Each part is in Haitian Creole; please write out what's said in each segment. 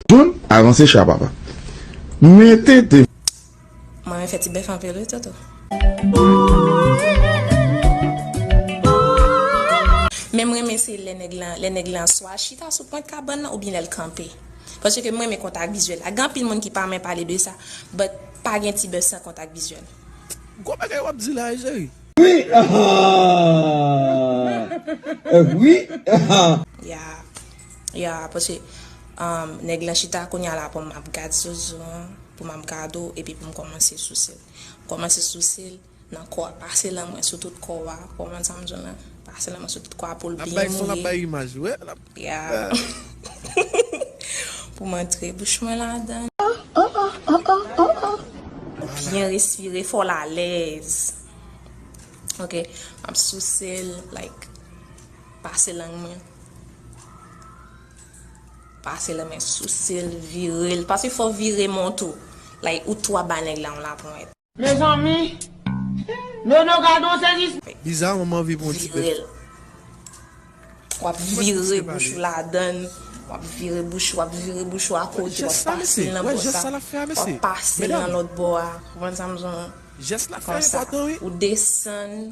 John avanse cha papa. Men tenten. Mwen renmen fè ti bèf anpil wi toto. Menm renmen se lè nèg lan lè nèg lan swa chita sou pwent kabann lan oubyen lèl kanpe paske m renmen kontak vizyèl la gen anpil moun ki pa rmen pale de sa but pa gen ti bèf san kontak vizyèl. Gwo bagay wap di la egeri. Wi ahh eh wi ahh. Yeah Ya paske nèg lan chita kounya la poum ap gad zuzu an poum ap gad ou epi poum kòmanse sousel kòmanse sousel nan kò a pase lan mwen sou tout kò a ou konprann sam diw la pase lan mwen sou tout kò a poul byen mouye ya poum antre bouch mwen ladan li byen respire fòl alèz ok map sousel like pase lang mwen. Pase la men souse l vire l paske fò w vire men w tou like ou tou ap bay nèg la yon laponyèt. Mezanmi Nono gad on sèvis. Bizarrement m anvi pran yon ti bèf. Virel. Wap vire bouch ou ladann, wap vire bouch ou, wap vire bouch ou a kote, wap pase l nan bò sa, wap pase l nan lòt bò a, konprann sa m di w lan? Konsa, ou desann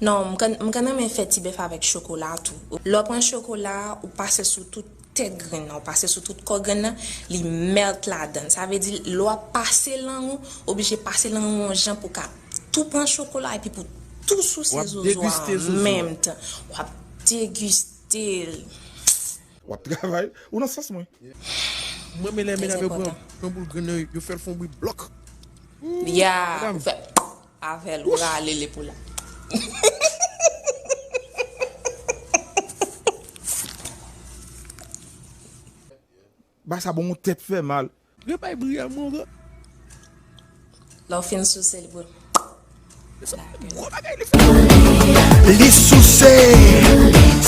Non, m konn renmen fè ti bèf avèk chokola tou. Lè w pran chokola a, ou pase sou tout tèt grenn nan, ou pase sou tout kò grenn nan, li melt ladan l. Sa vle di lè w ap pase lang ou, ou oblije pase lang ou yon jan pou w ka tou pran chokola a epi pou w tou souse zozo a an menm tan. W ap degiste l. W ap travay. Ou nan sans mwen. M renmen lè medam yo pran boul grenn nan, yo fè l fè yon bri blòk. Ooh! Ya! Ou fè. Avèl ou rale li pou la. Ba sa bon ou tèt fè mal. Re bay bri a mon re. Lè w fin souse li pou l. Gwo bagay li fè la. Li souse.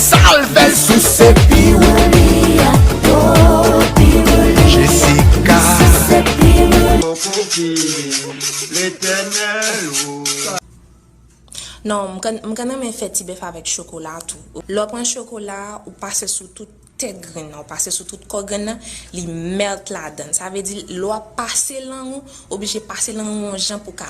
Sal fè l souse pi wou. Letènèl o. Non, m konn m konn renmen fè ti bèf avèk chokola tou. Lè w pran chokola a, ou pase sou tout tèt grenn nan, ou pase sou tout kò grenn nan, li melt ladan l. Sa vle di lè w ap pase lang ou, ou oblije pase lang ou yon jan pou w ka.